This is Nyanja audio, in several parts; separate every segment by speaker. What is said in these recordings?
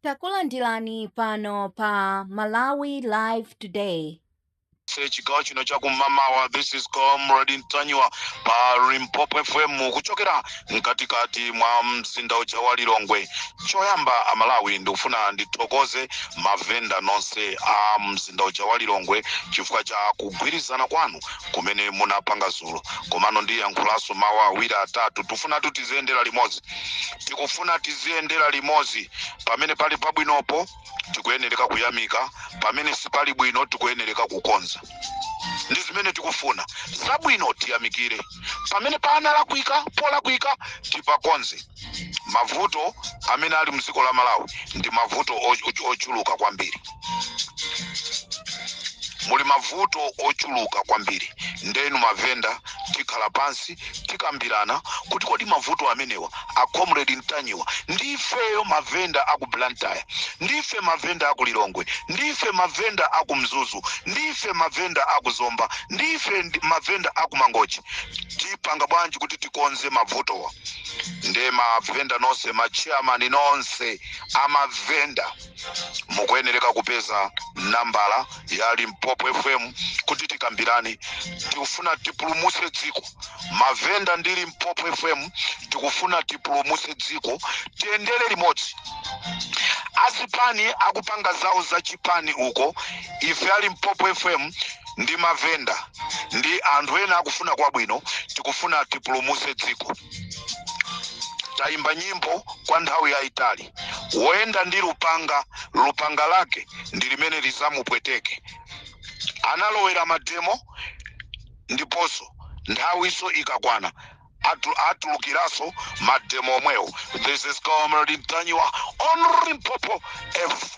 Speaker 1: Takulandirani pano pa Malawi Live Today. se chigawo
Speaker 2: chino cha kumamawa this is comrade ntanyiwa pa limpopo fm kuchokera mkatikati mwa mzinda uja wa lilongwe choyamba amalawi ndikufuna ndithokoze mavenda nonse a mzinda uja wa lilongwe chifukwa cha kugwirizana kwanu kumene munapanga zulo komano ndiyankhulanso mawu awiri atatu tifuna tiziyendera limodzi tikufuna tiziyendera limodzi pamene pali pabwinopo tikuyenereka kuyamika pamene sipali bwino tikuyenereka kukonza ndi zimene tikufuna zabwino tiyamikire pamene panalakwika polakwika tipakonze mavuto amene ali mdziko la malawi ndi mavuto o- o- ochuluka kwambiri muli mavuto ochuluka kwambiri ndenu mavenda tikhala pansi tikambirana kuti kodi mavuto amenewa a comrade ntanyiwa ndifeyo mavenda aku blantyre ndife mavenda aku lilongwe ndife mavenda aku mzuzu ndife mavenda aku zomba ndife mavenda aku mangochi tipanga bwanji kuti tikonze mavutowa nde mavenda nonse machairman nonse amavenda mukuyenereka kupeza nambala ya limpopo fm kuti tikambirane tikufuna tipulumutse dziko mavenda ndi limpopo fm tikufuna tipulumutse dziko tiyendere limodzi azipani akupanga zawo za chipani uko ife a limpopo fm ndi mavenda ndi anthu ena akufuna kwabwino tikufuna tipulumutse dziko tayimba nyimbo kwa nthawi yayitali woyenda ndi lupanga lupanga lake ndi limene lizamupweteke analowera mademo ndiponso nthawiso ikakwana atu, atulukiraso mademo omwewo this is comrade Ntanyiwa on Limpopo F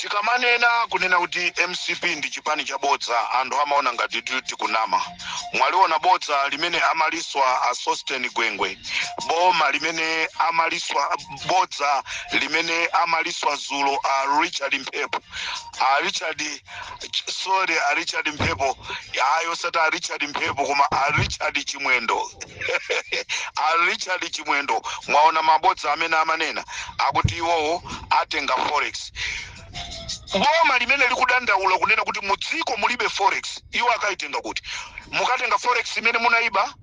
Speaker 2: Tikamanena kunena kuti mcp ndi chipani cha bodza anthu amaona ngati ti tikunama. Mwaliona bodza limene amaliswa a Sosten Gwengwe, boma limene amaliswa, bodza limene amaliswa dzulo a Richard Mphepo, a Richard. Ch- sorry a richard mphepo ayi osati a richard mphepo koma a richard chimwendo a richard chimwendo mwaona mabodza amene amanena akuti iwowo atenga forex boma limene likudandaula kunena kuti mu dziko mulibe forex iwo akayitenga kuti mukatenga forex imene munayiba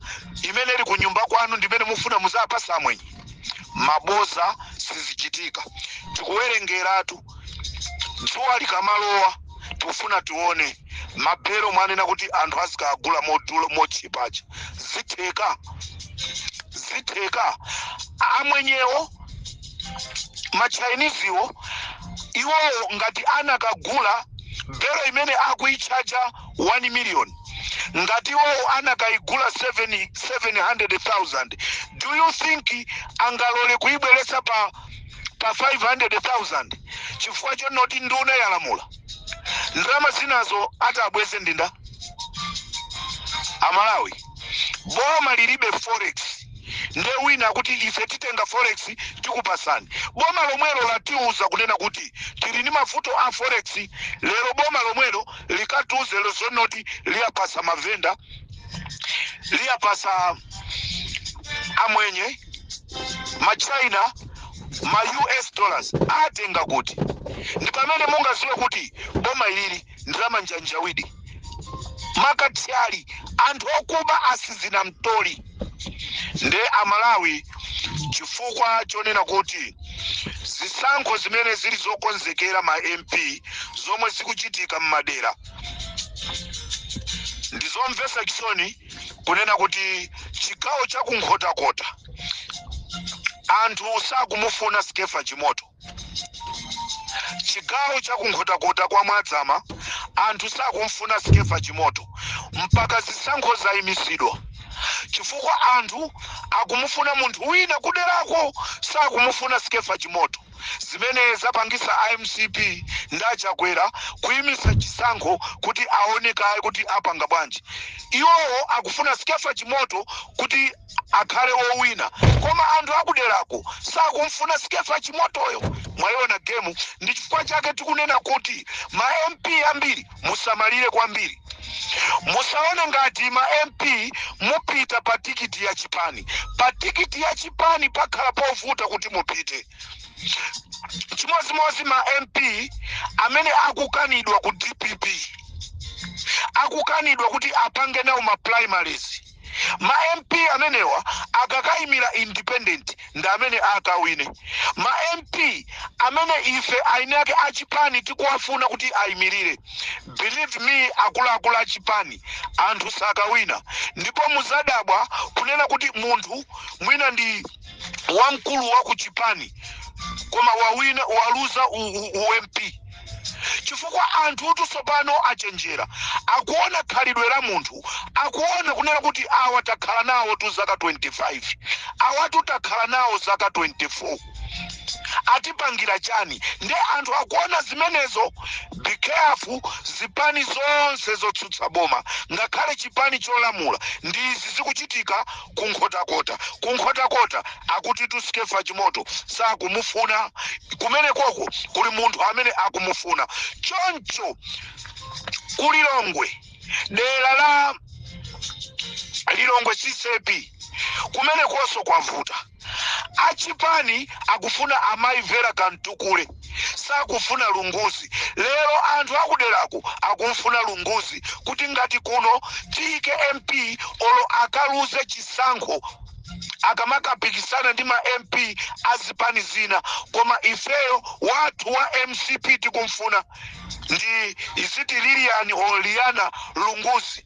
Speaker 2: imene ili kunyumba kwanu ndimene mufuna muzapasa amwenye maboza sizichitika tikuwerengeratu dzuwa likamalowa tikufuna tione mabelo mwanena kuti anthu azikagula modula mochipacha zitheka zitheka amwenyewo machainiziwo iwowo ngati anakagula belo imene akuichaja 1 million ngati iwowo anakaigula 700000 do you think angalole kuibweretsa pa pa 500,000 chifukwa chonoti nduna yalamula ndalama zinazo atabweze ndi ndani amalawi boma lilibe forex nde wina kuti ife titenga forex tikupasani boma lomwelo latiuza kunena kuti tili ndi mavuto a forex lero boma lomwelo likatiuze lozonoti liyapasa mavenda liyapasa amwenye ma china ma us dollars atenga kuti ndi pamene mungaziwe kuti boma ili ndi la manjanjawidi makathyali anthu okuba asizina mtoli nde amalawi chifukwa chonena kuti zisankho zimene zili zokonzekera ma mp zomwe zikuchitika m'madera ndizomvetsa chisoni kunena kuti chigawo cha kunkhotakota anthu sakumufuna skefa chimoto chigawo cha kunkhotakota kwa mwadzama anthu sakumfuna skefa chimoto mpaka zisankho zaimisidwa chifukwa anthu akumufuna munthu wina kuderako sakumufuna skefa chimoto Zimene zapangisa a mcp ndi a Chakwera kuimisa chisankho kuti aone kaye kuti apanga bwanji. Iwowo akufuna Skeffa Chimoto kuti akhale owina koma anthu akuderako sakumfuna Skeffa Chimotoyo. Mwaiona game ndi chifukwa chake tikunena kuti ma MP ambiri. musamalire kwambiri musaone ngati ma mp mupita pa tikiti ya chipani pa tikiti ya chipani pakhala povuta kuti mupite chimodzimodzi ma mp amene akukanidwa ku dpp akukanidwa kuti apange nawo ma primaries Ma MP amenewa akakaimira independent ndi amene akawine. Ma MP amene ife eni ake a chipani tikuwafuna kuti aimirire, believe me akuluakulu a chipani, anthu sakawina. Ndipo muzadabwa kunena kuti munthu mwina ndi wamkulu wa ku chipani koma wawina, waluza u, u, u MP. chifukwa anthutu tsopano achenjera akuona khalidwe la munthu akuona kunena kuti awa takhala nawotu zaka 25 awatu takhala nawo zaka 24 atipangira chani nde anthu akuona zimenezo be careful zipani zonse zotsutsa boma ngakhale chipani cholamula ndi izi zikuchitika ku nkhotakota ku nkhotakota akutitu skeffa chimoto sakumufuna kumenekoko kuli munthu amene akumufuna choncho ku lilongwe dera la lilongwe ccp kumenekonso kwavuta achipani akufuna amayi vera kamtukule sakufuna Lunguzi. Lero anthu akuderako akumfuna Lunguzi kuti ngati kuno tiyike MP olo akaluze chisankho akamakapikisana ndi ma MP a zipani zina koma ifeyo wathu wa mcp tikumfuna ndi is it Lilian or Liana Lunguzi.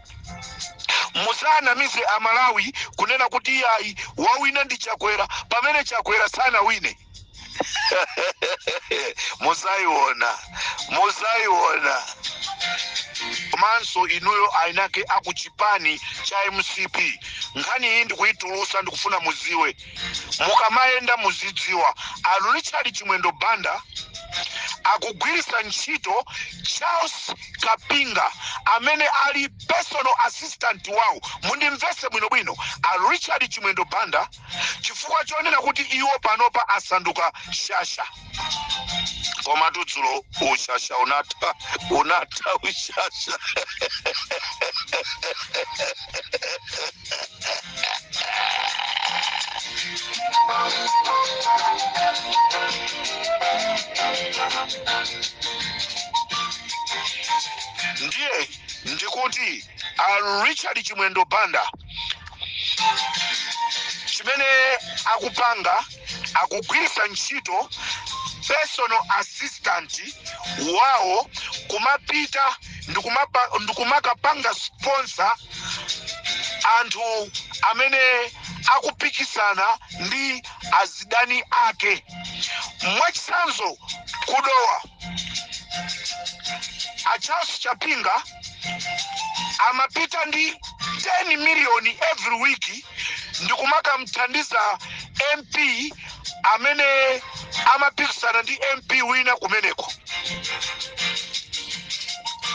Speaker 2: Musawanamize a Malawi kunena kuti iyayi wawina ndi Chakwera pamene Chakwera sanawine. Muzaiona, muzaiona. Komanso inuyo ayinake a ku chipani cha mcp nkhani iyi ndikuitulusa ndikufuna mudziwe. mukamayenda muzidziwa a richard chimwendo banda akugwiritsa ntchito charles kapinga amene ali personal assistant wawo mundimvetse bwinobwino a richard chimwendo banda chifukwa chonena kuti iwo panopa asanduka shasha komatu dzulo ushasha unatha unatha ushasha ndiye ndikuti a richard chimwendo banda chimene akupanga akugwiritsa ntchito personal assistant wawo kumapita ndikumakapanga sponsor anthu amene akupikisana ndi azidani ake mwachitsanzo ku dowa a charles chapinga amapita ndi 10 miliyoni every week ndikumakamthandiza mp amene amapikisana ndi mp wina kumeneko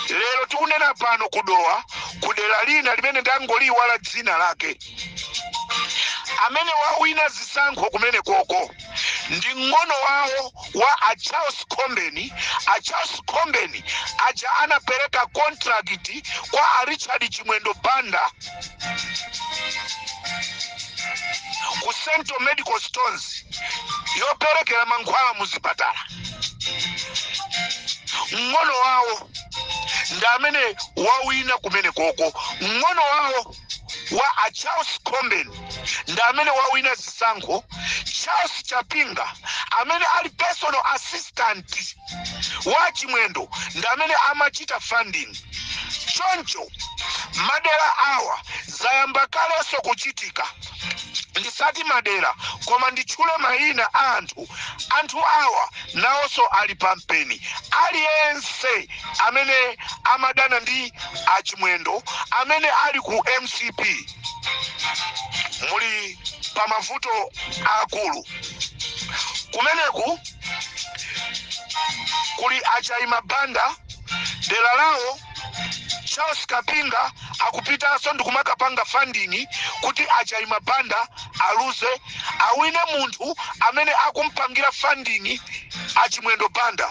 Speaker 2: lero tikunena pano ku dowa ku dera lina limene ndangoliyiwala dzina lake amene wawina zisankho kumenekoko ndi mng'ono wawo wa a charles khombeni a charles khombeni aja anapereka contract kwa a richard chimwendo banda ku central medical stores yoperekera mankhwala mu zipatala mng'ono wawo ndi amene wawina kumene koko mng'ono wawo wa a charles khombeni ndi amene wawina zisankho charles kapinga amene ali personal assistant wa chimwendo ndi amene amachita funding choncho madera awa zayamba kalenso kuchitika ndisati madera koma nditchule mayina a anthu anthu awa nawonso ali pampeni aliyense amene amadana ndi achimwendo amene ali ku mcp muli pa mavuto aakulu kumeneku kuli achayima banda dera lawo charles kapinga akupitanso ndikumakapanga funding kuti achaima banda aluze awine munthu amene akumpangira funding achimwendo banda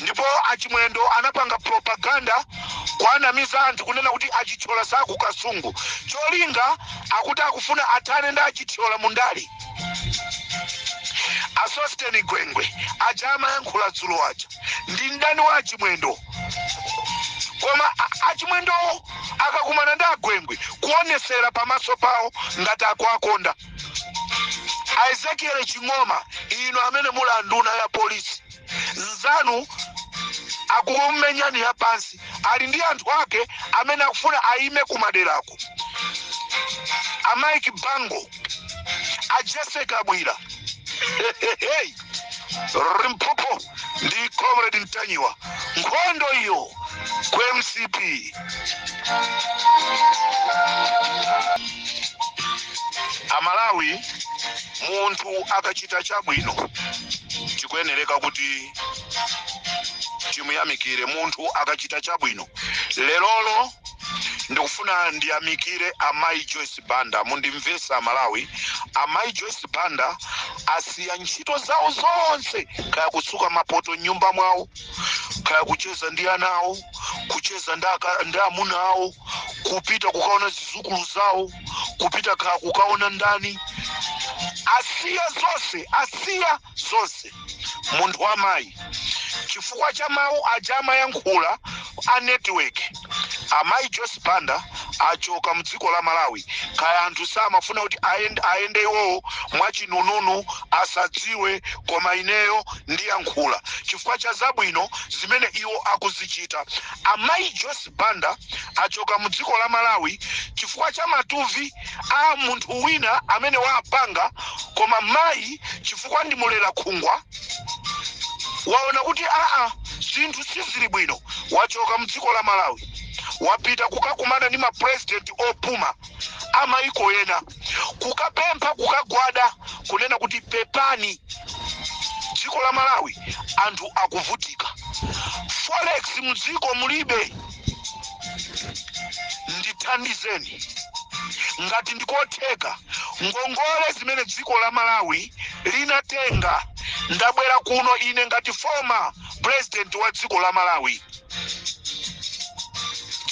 Speaker 2: ndipo achimwendo anapanga propaganda kuwanamiza anthu kunena kuti achithyola si aku kasungu cholinga akuti akufuna athane ndi achithyola mundali asosteni gwengwe aja amayankhula dzulo aja ndi mdani wa achimwendo koma a- achimwendowo akakumana ndi agwengwe kuonesera pamaso pawo ngati akuwakonda a ezekiel ching'oma inu amene muli anduna ya polisi mnzanu akukumenyani ya pansi ali ndi anthu ake amene akufuna ayime kumaderako a mike bango a jessica kabwila limpopo ndi comrade ntanyiwa nkhondo iyo ku mcp amalawi munthu akachita chabwino tikuyenereka kuti timuyamikire munthu akachita chabwino lerolo ndikufuna ndiyamikire amayi joyce Banda mundimvese amalawi amai joyce banda asiya ntchito zawo zonse kaya kusuka mapoto mnyumba mwawo kaya kucheza ndi ana awo kucheza ndi amuna awo kupita kukaona zizukulu zawo kupita kaya kukaona ndani asiya zonse asiya zonse munthu wa mayi chifukwa cha mawu aja amayankhula a Network amayi Joyce Banda achoka mdziko la Malawi kaya anthu samafuna kuti ayende iwowo mwachinununu asadziwe koma ineyo ndiyankhula chifukwa cha zabwino zimene iwo akuzichita amayi Joyce Banda achoka mdziko la Malawi chifukwa cha matuvi a munthu wina amene wapanga koma mayi chifukwa ndi mulera khungu waona kuti aa zinthu sizili bwino wachoka mdziko la malawi wapita kukakumana ndi mapurezidenti opuma a maiko ena kukapempha kukagwada kunena kuti pepani dziko la malawi anthu akuvutika forex mdziko mulibe ndithandizeni ngati ndikotheka ngongole zimene dziko la malawi linatenga ndabwera kuno ine ngati former president wa dziko la malawi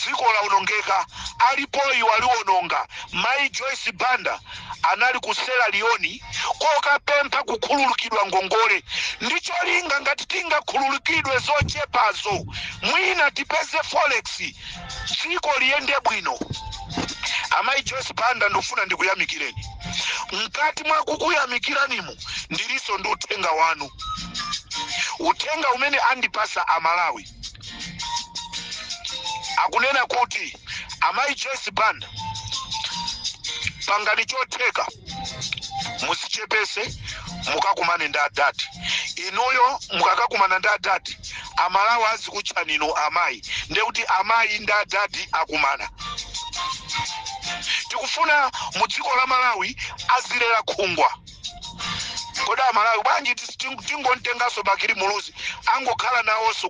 Speaker 2: dziko lawonongeka alipoyu waliwononga mayi joyce banda anali ku Sierra Leone kokapempha kukhululukidwa ngongole ndi cholinga ngati tingakhululukidwe zochepazo mwina tipeze forex dziko liyende bwino. Amayi Joyce Banda ndofuna ndikuyamikireni. Mkati mwa kukuyamikiranimu ndilinso ndi uthenga wanu, uthenga umene andipasa Amalawi. akunena kuti amayi joyce banda pangani chotheka mudzichepetse mukakumane ndi adadi inuyo mukakakumana ndi adadi amalawi azikutchani inu amayi nde kuti amayi ndi adadi akumana tikufuna mu dziko la malawi azilera khungwa kodi amalawi bwanji tingomtenganso bakili muluzi angokhala nawonso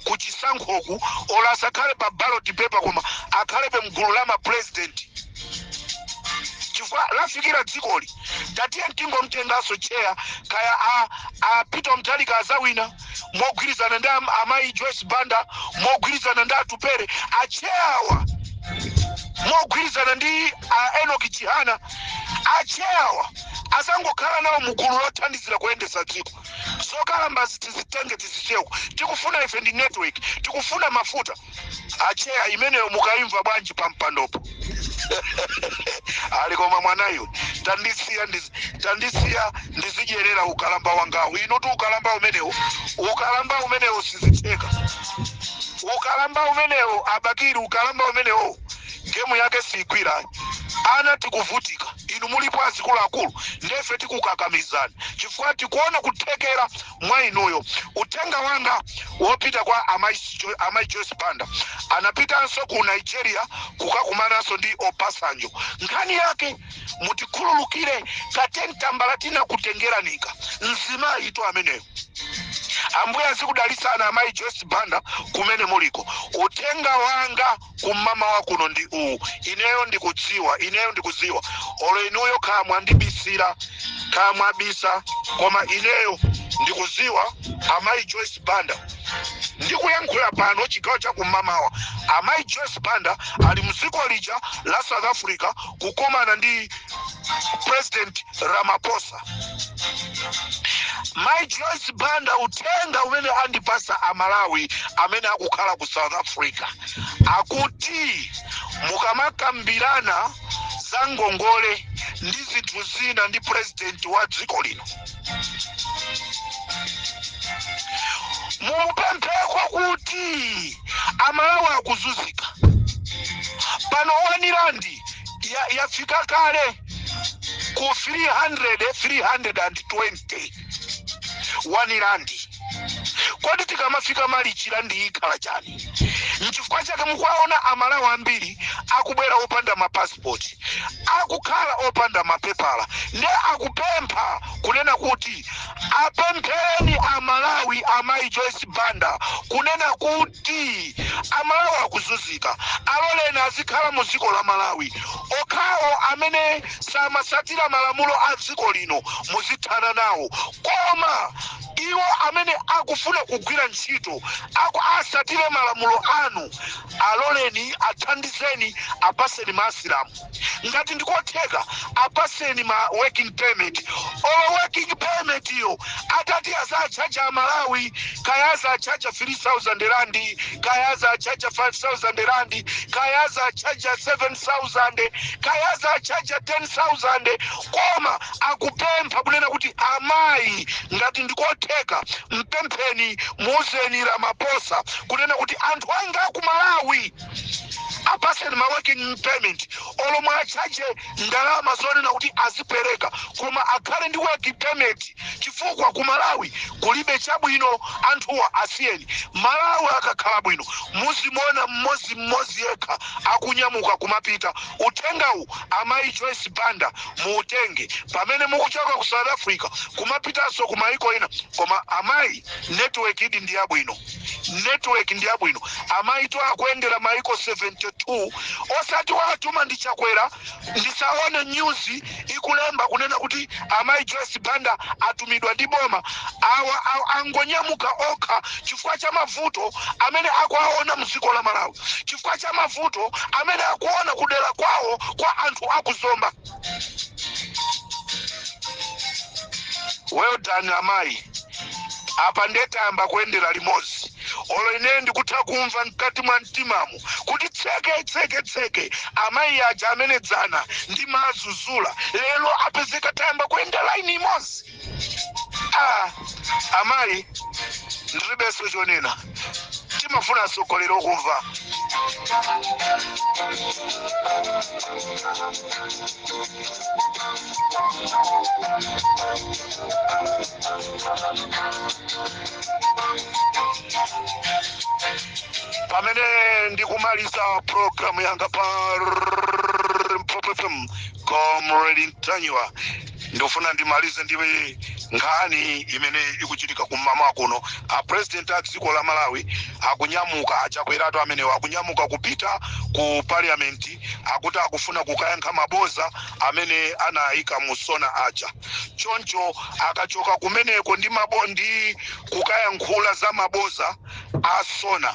Speaker 2: ku chisankhoku olo asakhale pa ballot paper koma akhalebe mgulu la mapurezidenti chifukwa lafikira dzikoli tatiye tingomtenganso cheya kaya a peter mutharika azawina mogwirizana ndi amayi joyce banda mogwirizana ndi atupere acheyawa mogwirizana ndi enoki chihana acheyawa azangokhala nawo mugulu lothandizira kuyendetsa dziko zokalambazi tizitenge tizicheka tikufuna ife ndi network tikufuna mafuta acheya imeneyo mukaimva bwanji pampandopo alikomwa mwanayo tandisiya ndiz- tandisiya ndizidyerera ukalamba wangawo inuti ukalamba umenewo ukalamba umenewo sizitheka ukalamba umenewo a Bakili ukalamba umenewo gemu yake siigwira ana tikuvutika inu mulipo azikuluakulu ndefe tikukakamizana chifukwa tikuona kuthekera mwa inuyo. Uthenga wanga wopita kwa Amai Jo- Amai Joyce Banda anapitanso ku Nigeria kukakumananso ndi Obasanjo. Nkhani yake mutikhululukire keteni tambala tinakutengerani ka mzimayi inu ameneyo. Ambuye azikudalitsani Amai Joyce Banda kumene muliko. Uthenga wanga kum'mamawa kuno ndi uwu ineyo ndikudziwa ineyo ndikudziwa olo inuyo kaya mwandibisira kaya mwabisa koma ineyo ndikudziwa amayi joyce banda ndikuyankhula pano chigawo cha kum'mamawa amayi joyce banda ali mdziko lija la south africa kukomana ndi president ramaphosa mai joyce banda uthenga umene andipasa amalawi amene akukhala ku south africa akuti mukamakambirana za ngongole ndi zinthu zina ndi purezidenti wa dziko lino mumupempheko kuti amalawi akuzunzika pano wani randi yafika kale ku 300 320 wani randi kodi tikamafika malichi randi ikhala chani nchifukwa chake mukuwaona amalawi ambiri akubwera opanda mapasipoti akukhala opanda mapepala nde akupempha kunena kuti apemphereni amalawi amayi joyce banda kunena kuti ti Amalawi akuzuzika aloleni azikhala mu ziko la Malawi. Okhawo amene samasatira malamulo a dziko lino muzithana nawo koma Iwo amene akufuna kugwira ntchito aku asatire malamulo anu aloleni athandizeni apaseni ma asilamu. ngati ndikotheka apaseni ma working permit olo working permit-yo atati azachaja amalawi kaya azachaja 3000 rand kaya azachaja 5000 rand kaya azachaja 7000 kaya azachaja 10000 koma akupempha kunena kuti amayi ngati ndikotheka mpempheni muuzeni ramaphosa kunena kuti anthu anga aku malawi apatseni ma working permit olo muwachaje ndalama zonena kuti azipereka koma akhale ndi working permit chifukwa ku malawi kulibe chabwino anthuwa asiyeni malawi akakhala bwino muzimuona mmodzi mmodzi yekha akunyamuka kumapita uthengawu amayi joyce banda muutenge pamene mukuchoka ku south africa kumapitanso ku maiko ina koma amayi network idi ndi yabwino network ndi yabwino amayitu akuyendera maiko 72 osati awatuma ndi chakwera ndisaone news ikulemba kunena kuti amayi joyce banda atumidwa ndi boma awa awa angonyamuka okha chifukwa cha mavuto amene akuwaona mdziko la malawi chifukwa cha mavuto amene akuona kudera kwawo kwa anthu aku zomba well done amayi apa nde tayamba kuyendera limodzi olo ineyo ndikutha kumva mkati mwa mtimamu kuti tseke tseke tseke amayi aja amene dzana ndimawazuzula lero apezeka tayamba kuyenda laini imodzi Ah, amayi ndiribenso chonena timafuna atsogoleri okumva pamene ndikumaliza programu yanga pa limpopo fm comrade ntanyiwa ndifuna ndimalize ndi nkhani imene ikuchitika kum'mawa kuno a president a dziko la malawi akunyamuka a chakweratu amenewo akunyamuka kupita ku parliament akuti akufuna kukayankha maboza amene anayika mu sona aja choncho akachoka kumeneko ndi mabo ndi kukayankhula za maboza a sona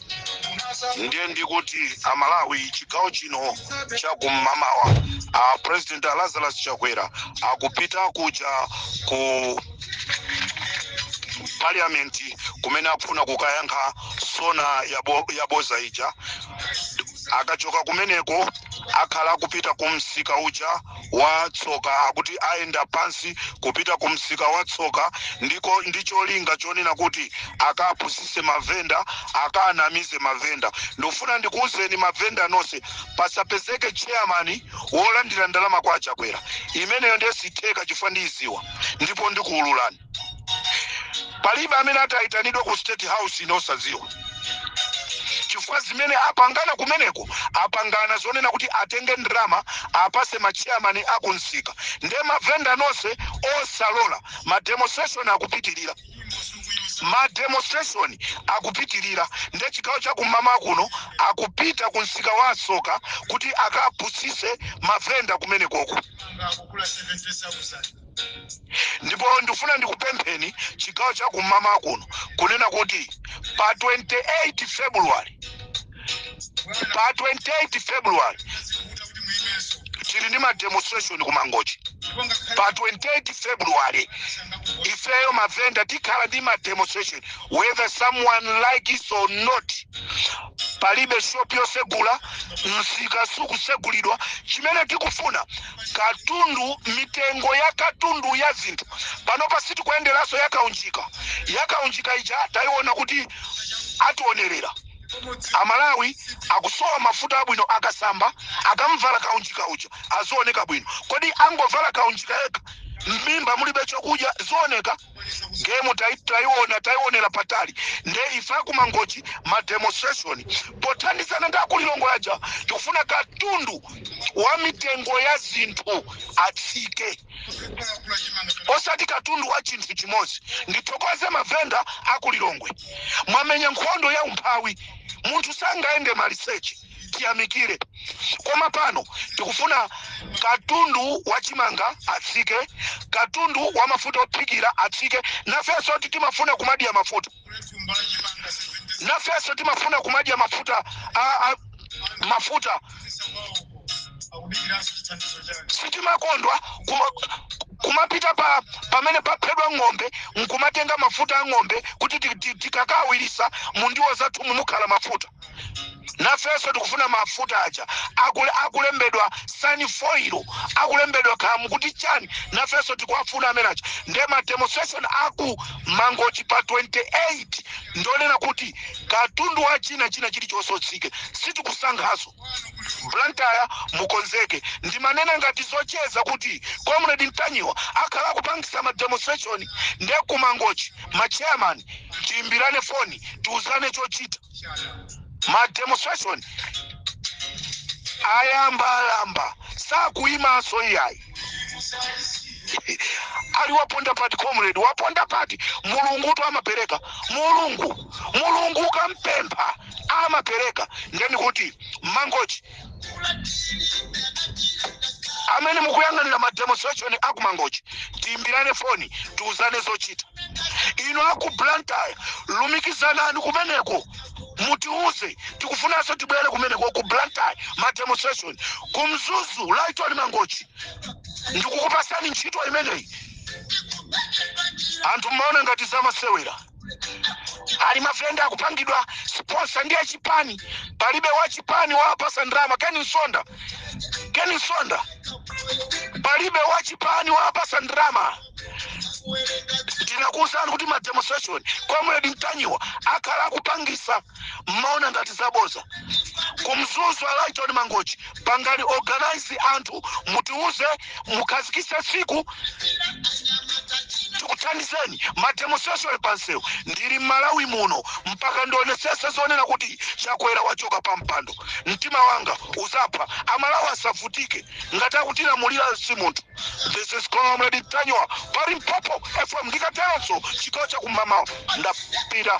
Speaker 2: ndiye ndikuti amalawi chigawo chino chakum'mawa a president a lazarus chakwera akupita kuja ku parliament kumene akufuna kukayankha sona yabo- yaboza ija akachoka kumeneko akhala akupita ku msika uja wa tsoka akuti ayenda pansi kupita ku msika wa tsoka ndi cho- ndi cholinga chonena kuti akapusise mavenda akanamize mavenda ndikufuna ndikuwuzeni mavenda nonse pasapezeke chairman wolandira ndalama kwa achakwera imeneyo ndiye sitheka chifukwa ndiyidziwa ndipo ndikuwululani palibe amene atayitanidwe ku state house ine osadziwa chifukwa zimene apangana kumeneko apangana zonena kuti atenge ndalama apase machairman akumsika nde mavenda nonse osalola mademonstration akupitirira mademonstration akupitirira nde chigawo chakum'mawa kuno akupita ku msika wa tsoka kuti akapusise mavenda kumenekoko ndipo ndifuna ndikupempheni chigawo cha kum'mawa kuno kunena kuti pa 28 february pa 28 february tili ndi mademonstration ku mangochi pa 28 february ifeyo mavenda tikhala ndi mademonstration whether someone like it or not palibe shop yosegula msika sukusegulidwa chimene tikufuna katundu mitengo ya katundu ya zinthu pano pasiti kuyenderanso yakaunjika yakaunjika ija tayiona kuti ationerera amalawi akusowa mafuta abwino akasamba akamvala kaunjika uja azioneka bwino kodi angovala kaunjika yekha m'mimba mulibe chokudya zioneka gemu taionera patali nde ife akumangochi ma demonstration pothandizana ndi akulilongwe aja tikufuna katundu wa mitengo ya zinthu atsike osati katundu wa chinthu chimodzi ndithokoze mavenda akulilongwe mwamenya nkhondo ya umphawi munthu sangayende maliseche tiyamikire koma pano tikufuna katundu wa chimanga atsike katundu wa mafuta ophikira atsike nafenso timafuna kumadya mafuta nafenso timafuna kumadya mafuta a, a, mafuta sitimakondwa kuma, kumapita pa pamene paphedwa ng'ombe nkumatenga mafuta a ng'ombe kuti tikakawirisa mundiwo zathu mumukhala mafuta nafenso tikufuna mafuta aja akule, akulembedwa sunfoil akulembedwa khamu kuti chani nafenso tikuwafuna amene aja nde ma demonstration aku mangochi pa 28 ndonena kuti katundu wa china china chilichonse utsike sitikusankhaso blantyre mukonzeke ndimanena ngati zocheza kuti comrade mtanyiwa akhala kupangisa ma demonstration nde kumangochi ma chairman tiimbirane foni tiuzane chochita ma demonstration ayamba ayamba sakuyimanso iyayi ali waponda pati comrade waponda pati mulungutu amapereka mulungu mulungu ukampempha amapereka ndeni kuti mangochi amene mukuyang'anira ma demonstration a ku mangochi tiimbirane foni tiuzane zochita inu aku blantyre lumikizanani kumeneko mutiuze tikufunanso tibwere kumeneko ku blantyre ma demonstration ku mzuzu Lighton Mangochi ndikukupasani ntchito imeneyi anthu mmaona ngati zamasewera ali mavenda akupangidwa sponsor ndi achipani palibe wachipani wawapatsa ndalama Ken Msonda Ken Msonda palibe wachipani wawapatsa ndalama tinakuwuzani kuti ma demonstration comrade Ntanyiwa akhala akupangisa mmaona ngati zaboza ku mzuzu a Lighton Mangochi pangani organize anthu mutiuze mukhazikise tsiku tikuthandizeni mademonstration pansewu ndili mmalawi muno mpaka ndionetsetse zonena kuti chakwera wachoka pa mpando mtima wanga uzaphwa amalawi asavutike ngati akutilamulira si munthu this is comrade Ntanyiwa pa Limpopo FM ndikatero chigawo chakummawa ndapita